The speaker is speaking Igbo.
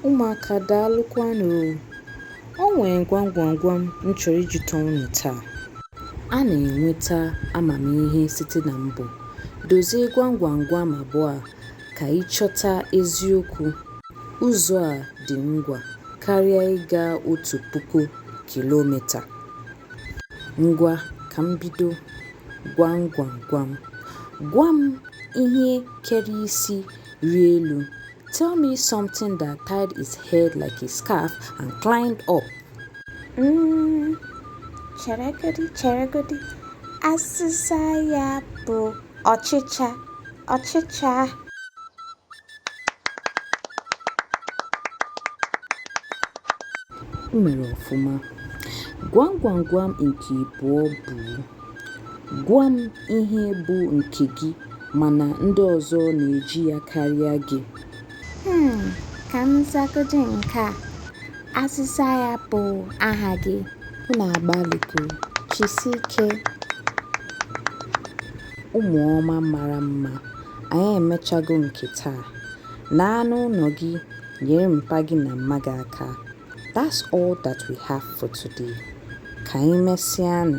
Ụmụaka daalụkwanụ o! O nwere gwam gwam gwam m chọrọ ịjụta unu taa. A na-enweta amamihe site na mbọ. Dozie gwam gwam gwam abụọ a ka ị chọta eziokwu, ụzọ a dị ngwa karịa ịga otu puku kilomita. Ngwa ka m bido, gwam gwam gwam. Gwa m ihe kere isi rie elu. Tell me something that tied its head like a scarf and climbed up. Mm, cheregodi cheregodi, asịsa ya bụ ọchịcha ọchịcha o mere ọfụma gwam gwam gwam nke ịbụọ bụ gwa m ihe bụ nke gị mana ndị ọzọ na-eji ya karịa gị Hmm, ka m zagodi nke a. Asịsa ya bụ aha gị. Unu agbalịgo. Jisie ike. Ụmụ ọma mara mma, anyị emechago nke taa. Naanụ ụlọ gị nyere mpa gị na mma gị aka. That's all that we have for today. Ka anyị mesịanụ.